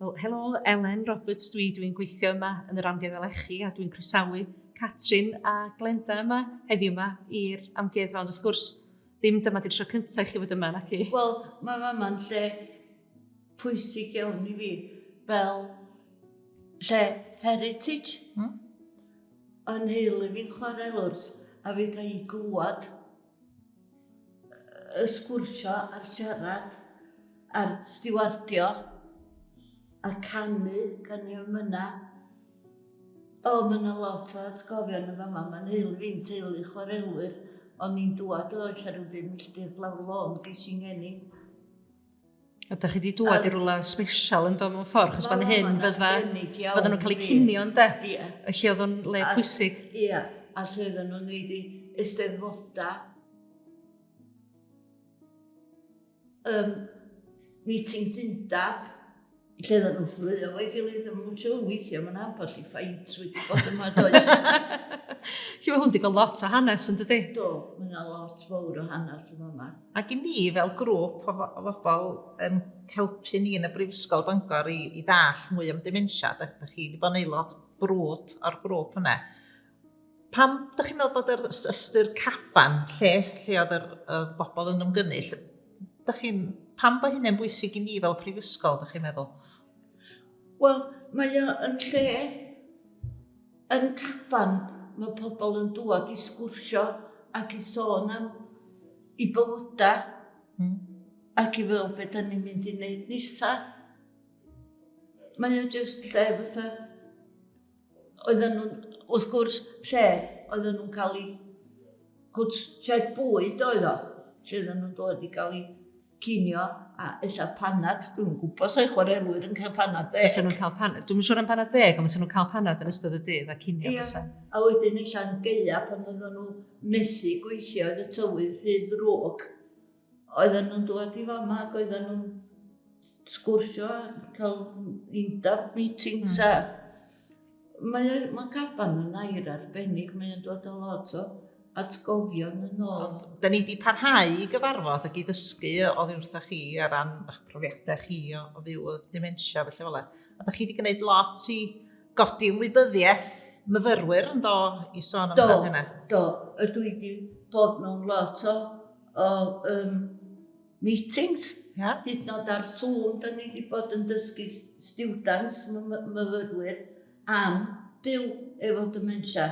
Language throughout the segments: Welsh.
Wel, helo, Elen Roberts dwi, dwi'n gweithio yma yn yr amgueddfa lechi a dwi'n croesawu Catrin a Glenda yma heddiw yma i'r amgueddfa, ond wrth gwrs, ddim dyma di'r tro cyntaf i chi fod yma, naci? Wel, mae fama'n lle pwysig iawn i fi, fel lle heritage. Hmm? Yn heulu fi'n chwarae lwrs, a fi gael i glwad y sgwrsio a'r siarad a'r stiwardio a canu gan i am yna. O, mae yna lot o atgofion yn fama, mae'n heil fi'n teulu chwarelwyr, o'n i'n dŵad o Oes ar y Bum Milltir Blaw'r Lôn, ges i'n ngeni A da chi wedi dŵad i rwla special yn do mewn ffordd, chos fan hyn fydda, fydda nhw'n cael eu cynio yn de, y lle oedd o'n le pwysig. Ia, a lle oedden nhw'n neud i eisteddfoda. Um, meeting Undab, lle oedden nhw'n fflio o'i gilydd yn mwtio weithio, mae'n ambell i ffaint wedi bod yma does. Chi'n hwn wedi cael lot o hanes yn dydy? Do, mae yna lot fawr o hanes yn yma. Ac i ni fel grŵp o, o bobl yn helpu ni yn y Brifysgol Bangor i, i ddall mwy am dementia, da, da chi wedi bod yn aelod brwd o'r grŵp yna. Pam dych chi'n meddwl bod yr ystyr caban, lles lle oedd yr, y bobl yn ymgynnull, dych chi'n, pam bod hynny'n bwysig i ni fel prifysgol, dych chi'n meddwl? Wel, mae o yn lle yn caban, mae pobl yn dŵad i sgwrsio ac i sôn am i bywydau hmm. ac i fel beth da ni'n mynd i wneud nesa. Mae o jyst lle fatha oedden nhw'n, wrth gwrs, lle oedden nhw'n cael eu cwt sied bwyd oedd o, lle oedden nhw'n dod i gael eu cinio a eitha panad, dwi'n gwybod sa'i chwarelwyr yn cael panad ddeg. Fysa nhw'n cael panad, dwi'n siŵr am panad ddeg, ond fysa nhw'n cael panad yn ystod y dydd a cinio yeah. fysa. A wedyn eitha'n geia pan oedden nhw methu gweithio oedd y tywydd rhy ddrwg. Oedden nhw'n dod i fama ac oedden nhw'n sgwrsio a cael undab meetings mm. a mae, mae caban yn air arbennig, mae'n dod o lot o atgofion yn ôl. Ond da ni wedi parhau i gyfarfod ac i ddysgu o ddiwrtha chi ar ran eich profiadau chi o, o fyw o dementia felly fel A da chi wedi gwneud lot i godi ymwybyddiaeth myfyrwyr yn do i sôn am hynna? Do, do. Ydw i wedi bod mewn lot o o um, meetings, yeah. hyd yn oed ar Zoom, da ni wedi bod yn dysgu students, myfyrwyr, am byw efo dementia.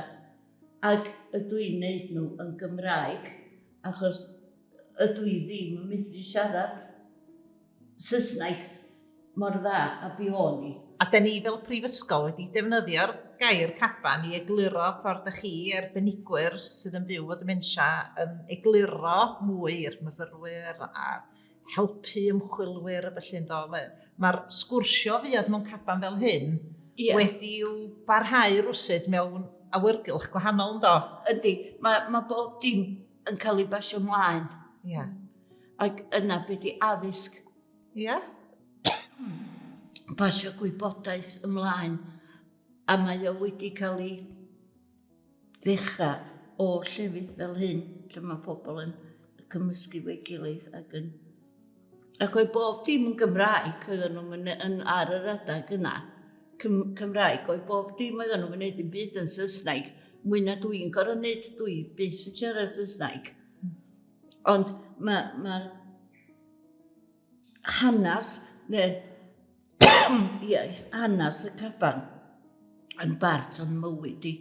Ac ydw i'n neud nhw yn Gymraeg, achos ydw i ddim yn medru siarad Saesneg mor dda a bu o'n i. A 'den ni fel prifysgol wedi defnyddio'r gair 'caban' i egluro ffordd 'dach chi, arbenigwyr sydd yn byw 'fo dementia, yn egluro mwy i'r myfyrwyr a helpu ymchwilwyr a felly yndo? Mae ma'r sgwrsio fuodd mewn caban fel hyn yeah. wedi i'w barhau rwsut mewn awyrgylch gwahanol yndo? Ydy, mae ma bob dim yn cael ei basio mlaen. Ie. Yeah. Ac yna beth di addysg. Ie. Yeah. basio gwybodaeth ymlaen. A mae o wedi cael ei ddechrau o llefydd fel hyn, lle mae pobl yn cymysgu fo'i gilydd ac yn Ac oedd bob dim yn Gymraeg, oedd nhw'n mynd yn, ar yr adeg yna. Cym, Cymraeg, oedd bob dim oedd nhw'n mynd yn byd yn Saesneg. Mwy na dwi'n gorau wneud, dwi bus yn siarad Saesneg. Ond mae ma hanes, neu iaith, hanes y caban yn bart o'n mywyd i.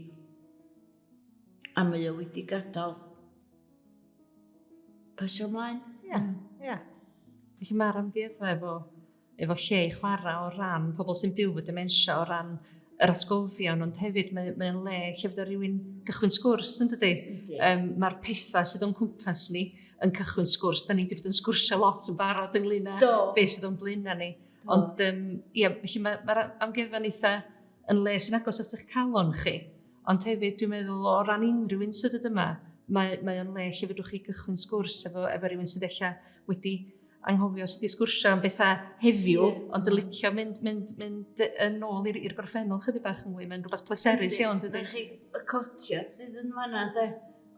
A mae o wedi gadael. Pasio ymlaen. Ia, hmm. ia. Felly mae'r amgueddfa efo, efo lle i chwarae o ran pobl sy'n byw fy dementia, o ran yr atgofion, ond hefyd mae'n mae le lle fydda rhywun gychwyn sgwrs yn dydy. Um, Mae'r pethau sydd o'n cwmpas ni yn cychwyn sgwrs. Da ni wedi bod yn sgwrsio lot yn barod ynglyn â beth sydd o'n blaenau ni. Ond, um, ia, felly mae'r ma, ma amgueddfa'n eitha yn le sy'n agos at eich calon chi. Ond hefyd, dwi'n meddwl, o ran unrhyw un sydd ddod yma, mae, mae o'n le lle fedrwch chi gychwyn sgwrs efo, efo rhywun sydd eich wedi anghofio sydd wedi sgwrsio am bethau heddiw, yeah. ond y licio mynd, mynd, mynd yn ôl i'r gorffennol chydig bach yn fwy. Mae'n rhywbeth pleserus iawn, dydy. Chi, y cotiad sydd yn fanna, de.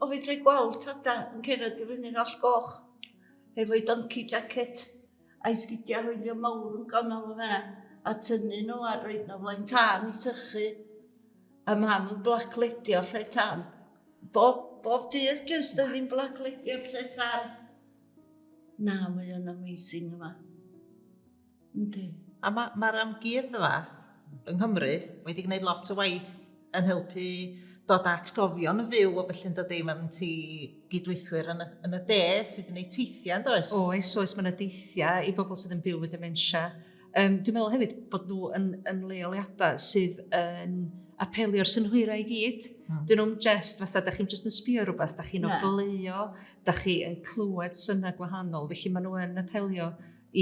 O, fi drwy gweld tada yn cerdded i fyny'r all goch, efo'i donkey jacket. A'i sgidiau hwylio mawr yn ganol y fenna, a tynnu nhw a roed nhw flaen tân i sychu. A mam yn blacledio lle tân. Bob, bob dydd jyst yn ddim blacledio lle tân. Na, mae o'n amazing yma. Yndi. A mae'r ma amgueddfa yng Nghymru wedi gwneud lot o waith yn helpu dod at atgofion yn fyw o beth yn dod ei man ti gydweithwyr yn y, yn y de sydd yn ei teithiau, yn oes? Oes, oes, mae'n adeithiau i bobl sydd yn byw y dementia. Um, dwi'n meddwl hefyd bod nhw yn, yn leoliadau sydd yn apelio'r synhwyrau i gyd. Mm. Dyn nhw'n jest, fatha, da chi'n just yn sbio rhywbeth, da chi'n ogleio, da chi yn clywed synnau gwahanol, felly maen nhw yn apelio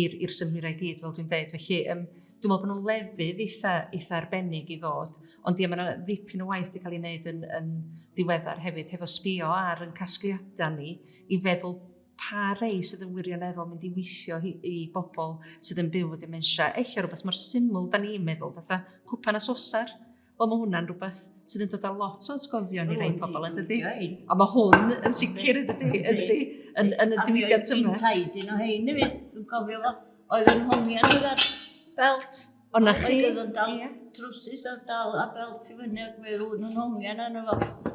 i'r i'r synhwyrau i gyd fel dwi'n deud felly yym dwi'n meddwl bod nhw'n lefydd eitha eitha arbennig i ddod ond ie mae yna ddipyn o waith wedi cael ei wneud yn yn ddiweddar hefyd hefo sbio ar yn casgliadau ni i feddwl pa rei sydd yn wirioneddol mynd i weithio i, i bobl sydd yn byw o dementia. Eich rhywbeth mor syml da ni'n meddwl, fatha cwpan a sosar, Wel, mae hwnna'n rhywbeth sydd yn dod â lot o atgofion i rei pobl, yn dydy? A mae hwn yn sicr, yn dydy, yn dydy, yn, yn y diwydiant yma. A dwi'n un o hyn i fi, dwi'n cofio fo, oedd yn hongian oedd ar belt. O na chi? Oedd yn dal trwsus ar dal a belt i fyny ac mae rhywun yn hongian arno fo.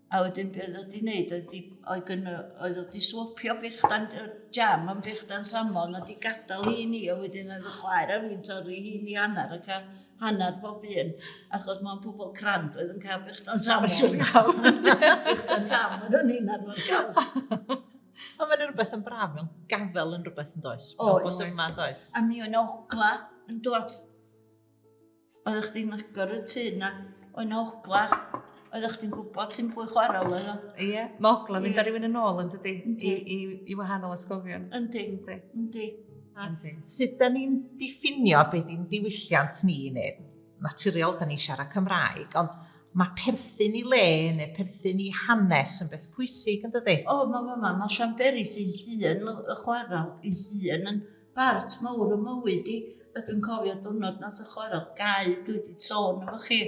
A wedyn be oedd o wedi wneud oedd, oedd, oedd, oedd o wedi swopio bechdan jam yn bechdan samon a wedi gadael hi ni a wedyn oedd y chwaer a fi'n torri hi ni hanner ac a hanner pob un achos mae'n pobl crand oedd yn cael bechdan samon. Siwr iawn. bechdan jam oedd o'n un ar fod cael. Ond mae'n rhywbeth yn braf, mae'n gafel yn rhywbeth yn does. Oes. Bod yma yn does. A mi o'n ogla yn dod Oeddech chdi'n agor y tŷ na? O'n ogla. Oeddech chdi'n gwybod ti'n pwy chwarae oedd o? Ie, mae ogla mynd ar rhywun yn ôl yn dydy. I, i, I wahanol ysgofion. Yndi. Yndi. Yndi. Yndi. Sut da ni'n diffinio beth i'n diwylliant ni neu naturiol da ni'n siarad Cymraeg, ond mae perthyn i le neu perthyn i hanes yn beth pwysig yn dydy. O, mae ma, ma, ma Siamberi sy'n llun y chwarae i llun yn bart mawr y mywyd i. Ydw i'n cofio diwrnod nath y chwarae gau, dwi wedi sôn efo chi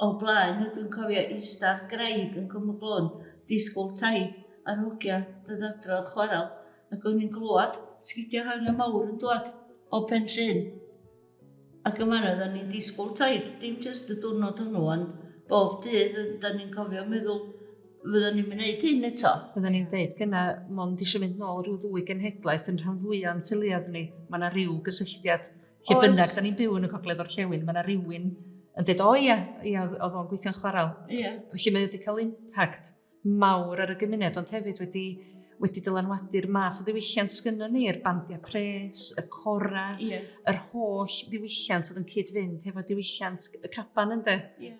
o blaen, ydw i'n cofio eistedd graig yn Cwm y Glôn, disgwyl taid ar hogia dyddadro o'r chwarae, ac o'n i'n glwad sgidiau hael y mawr yn dwad o Pen Llyn. Ac yn fan'na dan ni'n disgwyl taith, dim jyst y diwrnod hwnnw, ond bob dydd dan ni'n cofio meddwl, fyddwn ni'n gwneud hyn eto. Fyddwn ni'n dweud gyna, mond eisiau mynd nôl rhyw ddwy genhedlaeth yn rhan fwy o'n tyluoedd ni. Mae yna rhyw gysylltiad. Lle bynnag, da ni'n byw yn y cogledd o'r llewn, mae yna rhywun yn dweud, o ia, ia oedd o'n gweithio'n chwarel. Ia. Felly mae wedi cael impact. mawr ar y gymuned ond hefyd wedi wedi dylanwadu'r math o ddiwylliant sgynnon ni, yr bandiau pres, y cora, yeah. yr holl ddiwylliant oedd yn cyd-fynd hefo diwylliant y caban ynde. Yeah.